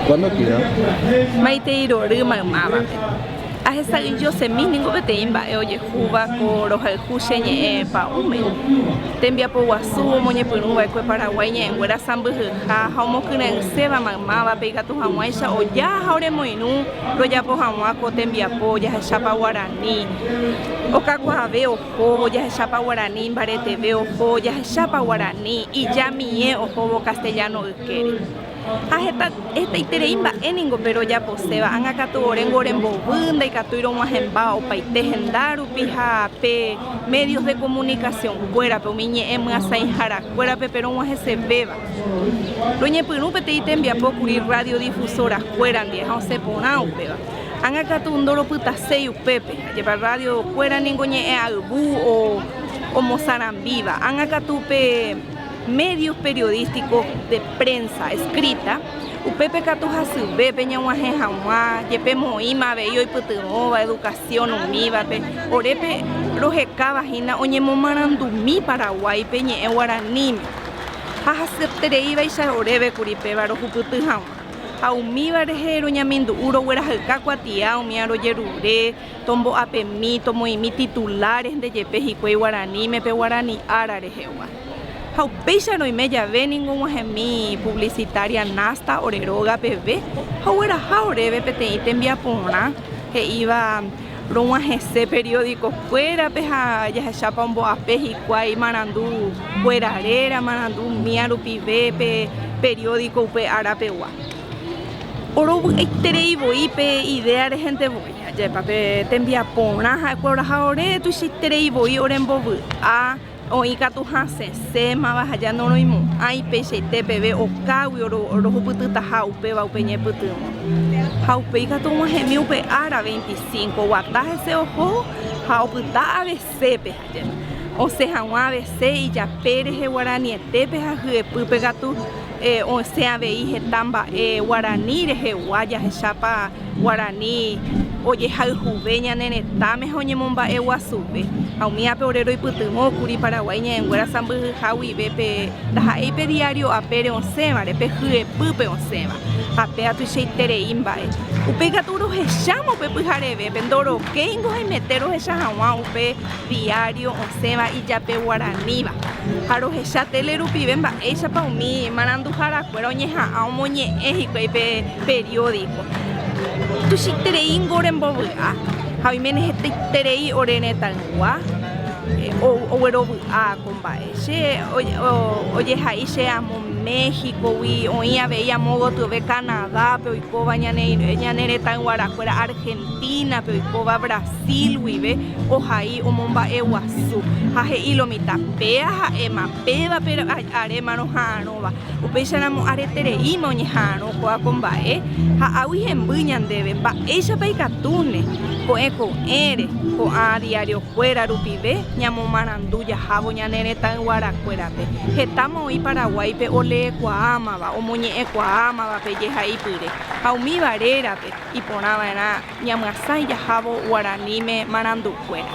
Cuándo tira? Maitei rory maymávape. Ahesa'ỹijo semi ningo peteĩ mba'e ojehúva ko rohayhu che ñe'ẽ pa'ũme. Tembiapo guasu omoñepyrũ va'ekue Paraguái ñe'ẽnguéra sãmbyhyha ha omokyre'ỹséva maymávape ikatu hag̃uáicha oja ha oremoirũ rojapo hag̃ua ko tembiapo ojahechápa guarani okakuaave ohóvo ojahechápa guarani imbareteve ohóvo ojahechápa guarani ijamie ohóvo castellano ykére. Ha heta hetaiterei mba'e ningo pe rojaposéva, ág̃a katu oréngo rembovy, ndaikatúi rog̃uahẽmba opaite henda rupi ha pe medios de comunicación kuérape, umi ñe'ẽ myasãihára kuérape pe rog̃uahẽsevéva. Roñepyrũ peteĩ tembiapo kuri radiodifusora kuéra ndive ha osẽ porã upéva. Ág̃a katu ndoropytaséi upépe, ajépa radio kuéra ningo ñe'ẽ ayvu o omosarambíva, ág̃a katu pe. Medios periodísticos de prensa escrita, upépe katu hasyve peñog̃uahẽ hag̃ua jepe moĩma avei oipytyvõva educación umívape, orépe rohekáva hína oñemomarandumi Paraguáipe ñe'ẽ guaraníme ha hasyettereívaicha oréve kuri péva rohupyty hag̃ua ha umíva rehe roñamindu'u roguerahyka kuatia umi arojerure, Tombo'apemi, tomoĩmi titulares nde jepe hikuái guaraníme pe guarani ára rehegua. Ha upéicharõ oime jave ningo og̃uahẽmi publicitaria Nasta ore róga peve ha ogueraha oréve peteĩ tembiaporã he'íva rog̃uahẽse periódico kuérape ha jahechápa ombo'ape hikuái marandu kuéra réra, marandu mía rupive pe periódico upe ára pegua. Orovy'aiterei voi pe idea rehente voi. Ajépa pe tembiaporã ha'ekuéra oraha ore, tuichaiterei voi ore mbovy'a, oĩ katu hasẽsémava ha ja noroimo'ãi peichaite peve okágui rohupytytaha upéva upe ñepytyvõ. Ha upéi katu og̃uahẽmi upe ára, 25 guata hese oho ha opyta avei. Sépe ha jey. Osẽ haguã vese ijape rehe guaranietépe ha hyepýpe katu osẽ avei heta mba'e guarani rehegua jahechápa guarani ojehayhuve ñane retãme ha oñemomba'e guasuve. Ha umi ápe ore roipytyvõ kuri Paraguái ñe'ẽnguéra sãmbyhyha guive pe ndaha'éi pe diario apére osẽvare, pe hyepýpe osẽva ha péva tuichaiterei mba'e. Upéi katu rohecháma upe pyharevépe ndoro. Che ingo haimete rohecha haguã upe diario osẽva ijape guaraníva, ha rohecha tele rupive mba'éichapa umi maranduhára kuéra oñeha'ã omoñe'ẽ hikuái pe periódico. Tuichaitereíngo ore mbovy'a ha oiméne hetaiterei ore retãygua oguerovy'a ko mba'e. Che ojehai che amo México gui, oĩ avei amo gotyove Canadá pe oikóva ñane retãyguara kuéra. Argentina-pe oikóva Brasil guive ohai omomba'e guasu ha he'i lo mitã péa ha'éma pévape arémarõ ha'arõva. Upéicharamo aretereíma oñeha'arõ kóva ko mba'e ha águi hemby ñandéve mba'éichapa ikatúne ko'ẽ ko'ẽre ko'ã diariokuéra rupive ñamomarandu jahávo ñane retãyguarakuérape. Hetáma oĩ Paraguáipe oleekuaámava, omoñe'ẽkuaámava pe jehaipyre ha umíva rérape. Iporãva'erã ñamyasãi jahávo guaraníme marandu'kuéra.